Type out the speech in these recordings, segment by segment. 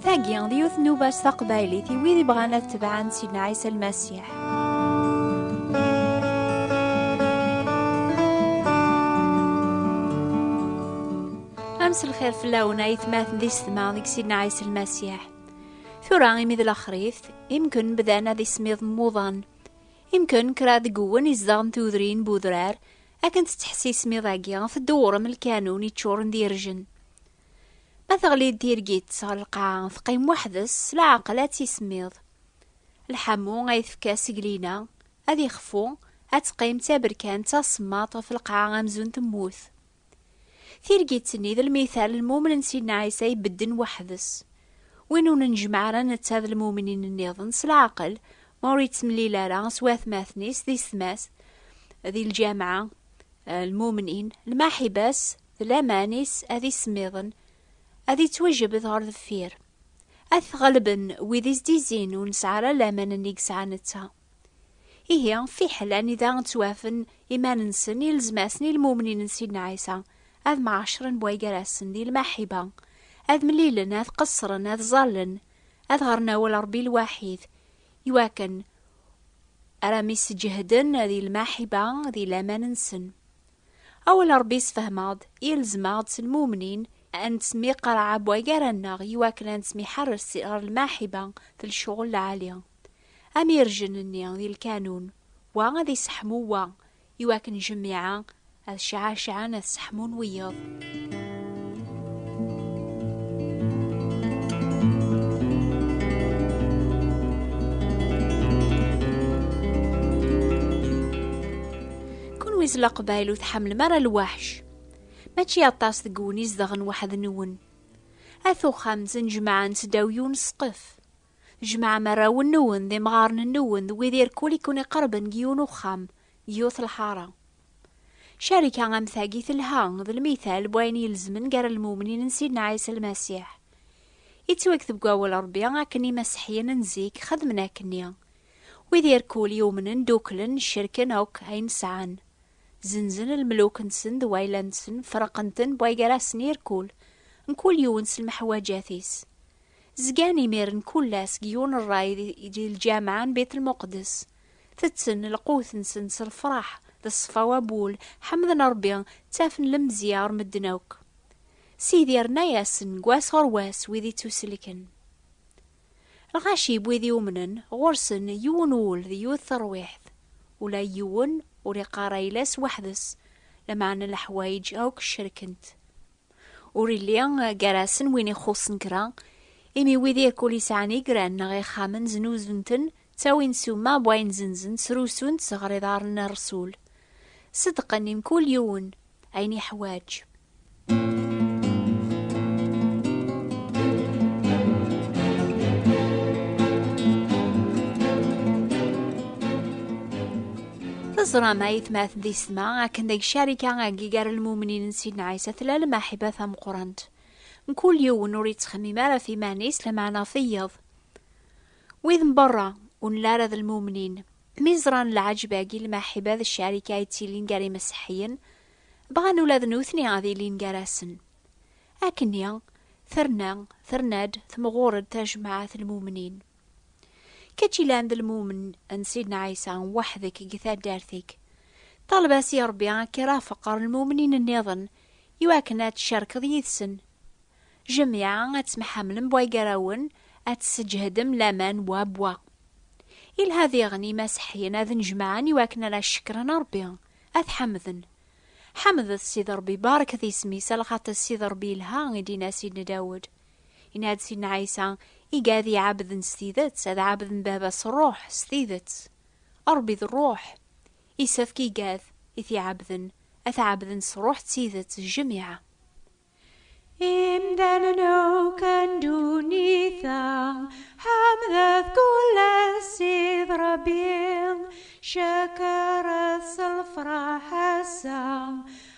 Tagi, d yiwet nnuba s taqbaylit i wid ibɣan ad tebɛan Sidna Ɛisa Lmasiḥ. Am s lxir fell-awen ay tmaten di setma deg Sidna Ɛisa Lmasiḥ. Tura imi d laxrit, imken bdan ad ismiḍ mmuḍan. Imken kra deg uwen izdeɣen tudrin bu udrar, akken tettḥess ismiḍ-agi, teddewrem lkanun iččuren d irjen. Ma teɣli-d tirgit ɣer lqaɛa, teqqim weḥd-s s leɛqel ad tismiḍ. Lḥamu ay tefka seglina, ad ixfu, ad teqqim d taberkant tasemmaḍt ɣef lqaɛa amzun temmut. Tirgit-nni d lmital n mumen n Sidna Ɛisa ibedden weḥd-s. Win ur nejmeɛ ara netta d lmumnin nniḍen s leɛqel, ma ur yettemlil ara s watmaten-is di setma-s, di lǧameɛ, lmumnin, lmaḥiba-s d laman-is ad ismiḍen, ad ittwajebed ɣer deffir. Ad t-ɣelben wid i s-d-izzin ur nesɛi ara laman-nni yesɛa netta. Ihi, fiḥel anida ttwafen iman-nsen ilezmasen i lmumnin n Sidna Ɛisa, ad mɛaccren bwa gar-asen di lmaḥiba, ad mlilen, ad qeṣṣren, ad ẓallen, ad ɣren awal Ṛebbi lwaḥid, iwakken ara mi sǧehden di lmaḥiba di laman-nsen. Awal Ṛebbi yessefhem-aɣ-d, ilzem-aɣ-d s lmumnin ad nettmiqraɛ bwa gar-aneɣ iwakken ad nettmiḥarres ɣer lmaḥiba d lecɣel lɛali. Am irjen-nni di lkanun, wa ad iseḥmu wa, i wakken jmiɛa ad cɛacɛen ad seḥmun wiyeḍ. Kenwi s leqbayel ur tḥemmlem ara lwaḥc. Mačči aṭas deg wen izedɣen weḥd-nwen. At uxxam ttnejmaɛen s ddaw yiwen ssqef. Jemɛem arraw-nwen d imɣaren-nwen d wid irkul i ken-iqerben deg yiwen uxxam, deg yiwet lḥara. Ccarika am tagi telha d lmital n wayen ilezmen gar lmumnin n Sidna Ɛisa Lmasiḥ. Yettwaked deg Wawal n Rebbi akken Imaseḥyen n zik xedmen akkenni. Wid irkul yumnen dduklen, cerken akk ayen sɛan. Zenzen lmeluk-nsen d wayla-nsen, ferqen-ten bway gar-asen irkul, mkul yiwen s lmeḥwaǧat-is. Zgan imiren kull ass deg yiwen rray di lǧameɛ n Beit Lmuqdes. Tetten lqut-nsen s lefraḥ d ṣṣfa wabul, ḥemden Rebbi, ttafen lemzeyya ɣer medden akk. Sidi irna-yasen deg wass ɣer wass wid i ttuselken. Lɣaci n wid iumnen, ɣur-sen yiwen wul d yiwet terwiḥt. Ula d yiwen ur iqqar ayla-s weḥd-s, lameɛna leḥwayeǧ akk cerken-t. Ur illi gar-asen win ixuṣṣen kra, imi wid yakk ur isɛan igran neɣ ixxamen znuzun-ten, ttawin ssuma n wayen zenzen, srusun-tt ɣer iḍarren n Rresul, ṣeddqen i mkul yiwen ayen iḥwaǧ. Teẓram ayetmat d isetma akken deg carika agi gar lmumnin n Sidna Ɛisa tella lmaḥiba tameqqrant. Mkul yiwen ur yettxemmim ara ɣef iman-is lameɛna ɣef iyeḍ. Wid n berra ur nella ara d lmumnin, mi ẓran lɛejb-agi n lmaḥiba d ccarika ay ttilin gar imeṣṣeḥiyen, bɣan ula d nutni ad ilin gar-asen. Akkenni, terna, terna-d, temɣur-d tajmaɛt n lmumnin. Kečč ilan d lmumen n Sidna Ɛisa weḥd-k deg taddart-ik. Ṭaleb-as i Ṛebbi ad k-irafeq ɣer lmumnin nniḍen iwakken ad tcerkeḍ yid-sen. Jemɛa ad temḥamlem bwa gar-awen, ad tesseǧhedem laman bwa bwa. Ilha diɣen imaseḥyen ad nnejmaɛen iwakken ad cekkren Ṛebbi, ad t-ḥemden. Ḥemdet Sidi Ṛebbi, barket isem-is, alxaṭi Sidi Ṛebbi ilha, i d-inna Sidna Dawed. Yenna-d Sidna Ɛisa, Iga ad iɛabden s tidet, ad ɛabden Baba s ṛṛuḥ, s tidet. Ṛebbi d ṛṛuḥ. Yessefk igad i t-iɛabden, ad t-ɛabden s ṛṛuḥ d tidet, jjemiɛa. Imdanen akk n ddunit-a ḥemdet kul ass id Ṛebbi, cekṛet s lefṛaḥ ass-a,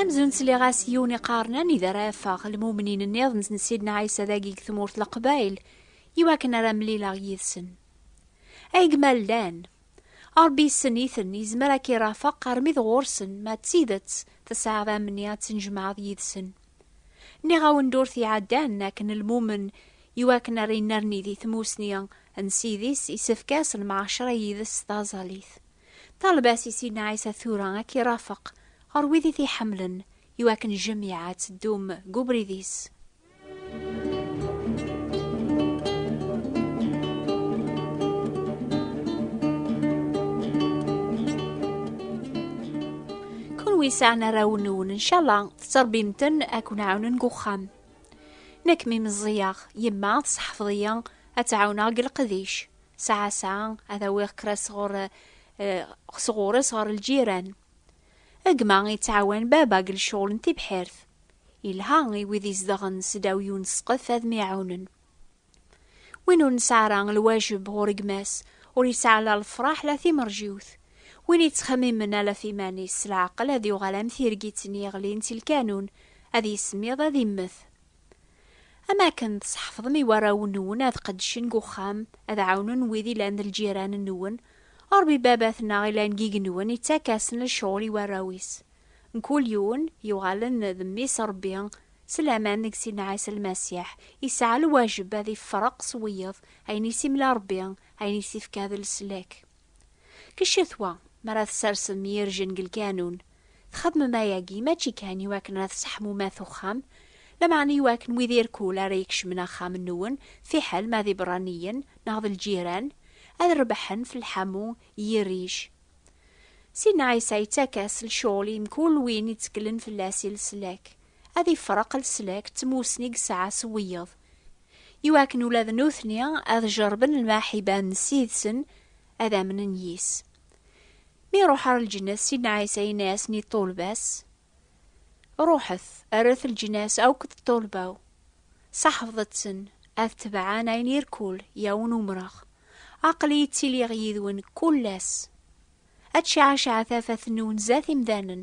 amzun sliɣ-as yiwen iqaren anida ara afeɣ lmumnin nniḍen n sidna ɛisa dagi deg tmurt leqbayl iwakken ara mlileɣ yid-sen ay gma llan Ṛebbi yessen-iten, yezmer ad k-irafeq armi d ɣur-sen, ma d tidet tesɛiḍ amni ad tennejmaɛeḍ yid-sen. Nniɣ-awen ddurt iɛeddan akken lmumen iwakken ara yennerni di tmusni n Ssid-is isefk-as lemɛaceṛa yid-s s taẓallit. Ṭaleb-as i Sidna Ɛisa tura ad k-irafeq ɣer wid i t-iḥemmlen iwakken jemiɛa ad teddum deg ubrid-is. yesɛan arraw-nwen ncalla tettṛebbim-ten ad ken-ɛawnen deg uxxam nekk mi meẓẓiyeɣ yemma tseḥfeḍ-iyi ad tt-ɛawneɣ deg leqdic saɛa saɛa ad awiɣ kra sɣur eh, sɣur-s ɣer lǧiran Gma yettɛawan baba deg lecɣel n tibḥirt. Yelha i wid izedɣen s ddaw yiwen ssqef ad myaɛunen. Win ur nesɛi ara lwajeb ɣur gma-s, ur yesɛi la lefraḥ la timerjiwt. Win yettxemmimen ala ɣef iman-is, s leɛqel ad yuɣal am tirgit-nni yeɣlin si lkanun, ad yismiḍ ad immet. Am akken tesḥefḍem i warraw-nwen ad qeddcen deg uxxam, ad ɛawnen wid ilan d lǧiran-nwen, Ṛebbi Baba-tneɣ ilan deg igenwan ittak-asen lecɣal i warraw-is. Mkul yiwen yuɣalen d mmi-s Ṛebbi, s laman deg Sidna Ɛisa Lmasiḥ, yesɛa lwajeb ad ifreq s wiyeḍ ayen i s-imla Ṛebbi, ayen i s-ifka d leslak. Ccetwa, mi ara tessarsem irjen deg lkanun, txedmem ayagi mačči kan i wakken ara tesseḥmumat uxxam, lameɛna i wakken wid irkul ara ikecmen axxam-nwen, fiḥel ma d iberraniyen neɣ d lǧiran, ad rebḥen f lḥamu n yirrij. Sidna Ɛisa yettak-as lecɣel i mkul win itteklen fell-as i leslak, ad ifreq leslak d tmussni i yesɛa s wiyeḍ, iwakken ula d nutni ad jerben lmaḥiba n sid-sen ad amnen yis. Mi iruḥ ar lǧenna s Sidna Ɛisa yenna-asen i ṭṭulba-s, Ruḥet, rret lǧenna-s akk d ṭṭulba-w, saḥfḍet-ten, ad tebɛen ayen irkul, yawen umreɣ. Aql-iyi ttiliɣ yid-wen kull ass. Ad tceɛceɛ tafat-nwen zdat imdanen,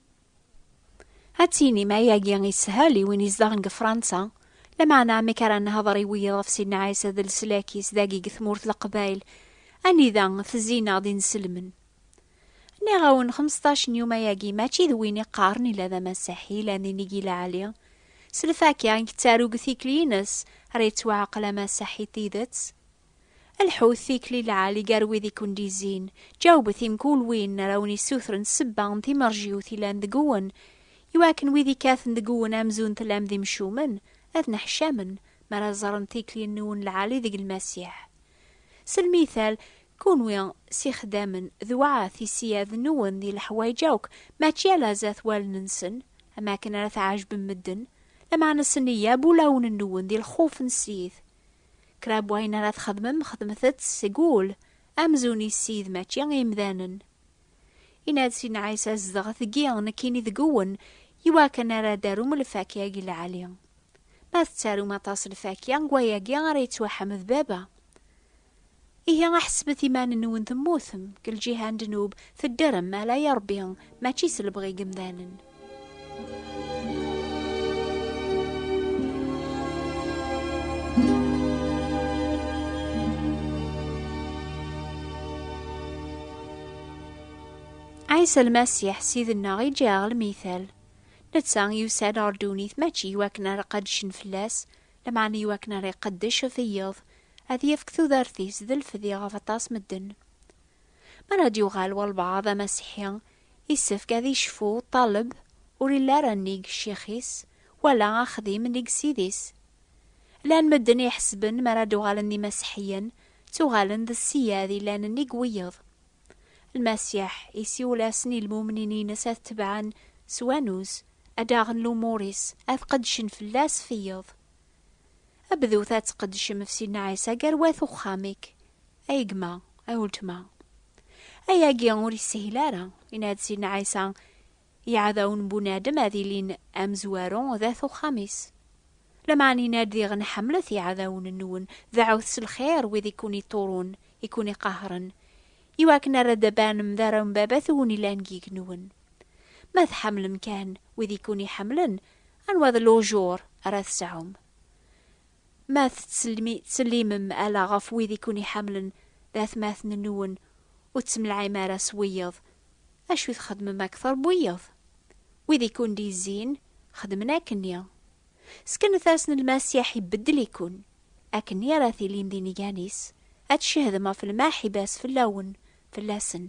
Ad tinim ayagi ishel i win izdaɣen deg Fransa, lameɛna amek ara nehder i wiyaḍ ɣef Sidna Ɛisa d leslak-is dagi deg tmurt Leqbayel, anida tezzi-neɣ d inselmen? Nniɣ-awen xmesṭac n yuma-agi mačči d win iqqaren ila d amasiḥi yellan di Nigi Laɛli, s lfakya i yettaru deg tikli-ines ara yettwaɛqel amasiḥi n tidet. Lḥut tikli lɛali gar wid i ken-d-izzin, ǧawbet i mkul win ara wen-issutren ssebba n timerjiwt yellan deg wen, i wakken wid ikkaten deg wen amzun tellam d imcumen, ad neḥcamen mi ara ẓren tikli-nwen lɛali deg Lmasiḥ. S lmithal, kunwi s ixeddamen d waɛt iseyyaden-nwen di leḥwayeǧ akk, mačči ala zat wallen-nsen, am akken ara tɛejbem medden, lameɛna s nneyya n wulawen-nwen di lxuf n Ssid. Kra n wayen ara txedmem xedmet-t seg wul, amzun i Ssid mačči i yemdanen. Yenna-d Sidna Ɛisa, Zedɣet deg-i, nekkini deg-wen, i wakken ara d-tarum lfakya deg lɛali. Ma tettarum aṭas lfakya, deg wayagi ara yettwaḥmed Baba. Ihi aḥesbet iman-nwen temmutem, deg lǧiha n ddnub, teddrem, ala i Ṛebbi, mačči s lebɣi n yemdanen. Ɛisa Lmasiḥ, Ssid-nneɣ, iǧǧa-aɣ lmital. Netta yusa-d ɣer ddunit mačči i wakken ara qeddcen fell-as, lameɛna i wakken ara iqeddec ɣef wiyeḍ, Ad yefk tudert-is d lfedi ɣef aṭas medden. Mi ara d-yuɣal walbaɛḍ d amasiḥi, yessefk ad icfu ṭṭaleb ur illi ara nnig ccix-is, wala axdim nnig ssid-is. Llan medden iḥesben mi ara d-uɣalen d imasiḥiyen, ttuɣalen d ssiyad yellan nnig wiyeḍ. Lmasiḥ isiwel-asen i lmumnin-ines ad t-tebɛen s wanuz, ad aɣen lumur-is, ad qeddcen fell-as f iyeḍ. Bdut ad tqeddcem ɣef Sidna Ɛisa gar wat uxxam-ik, ay gma, ay weltma. Ayagi ur yeshil ara, yenna-d Sidna Ɛisa, Iɛdawen n bunadem ad ilin amezwaru d at uxxam-is. Lameɛna yenna-d diɣen ḥemmlet iɛdawen-nwen, deɛɛut s lxir wid i ken-iṭṭurun, i ken-iqahren, iwakken ar ad d-banem d arraw n Baba-twen yellan deg yigenwan. Ma tḥemmlem kan wid i ken-iḥemmlen, Anwa d lujur ara tesɛum? Ma tettsellimem ala ɣef wid i ken-iḥemmlen d atmaten-nwen, ur ttemlaɛim ara s wiyeḍ, acu i txedmem akteṛ n wiyeḍ? Wid i ken-d-izzin xedmen akkenni. Ssknet-asen Lmasiḥ ibeddel-iken, akkenni ara tilim d inegan-is, ad tcehdem ɣef lmaḥiba-s fell-awen fell-asen.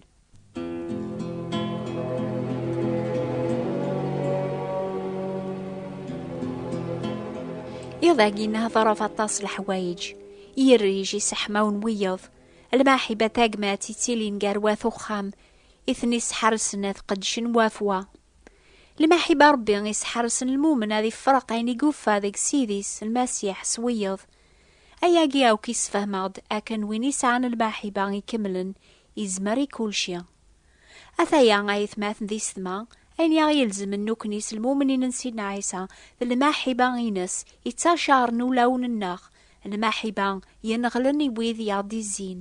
Iḍ agi nehḍeref aṭas leḥwayeǧ, irrij iseḥmaw n wiyeḍ, lmaḥiba tagmat ittilin gar wat uxxam, i ten-isḥersen ad qedcen wafwa. Lmaḥiba Rebbi isḥersen lmumen ad ifreq ayen i yufa deg Sidis, Lmasiḥ, s wiyeḍ, Ayagi akk yessefhem-aɣ-d akken win yesɛan lmaḥiba ikemlen yezmer i kulci. Ataya a yetmaten d isetma, ayen i aɣ-yelzemen nekkni s lmumnin n Sidna Ɛisa d lmaḥiba-ines yettacaren ulawen-nneɣ, lmaḥiba yenɣelen i wid i aɣ-d-izzin.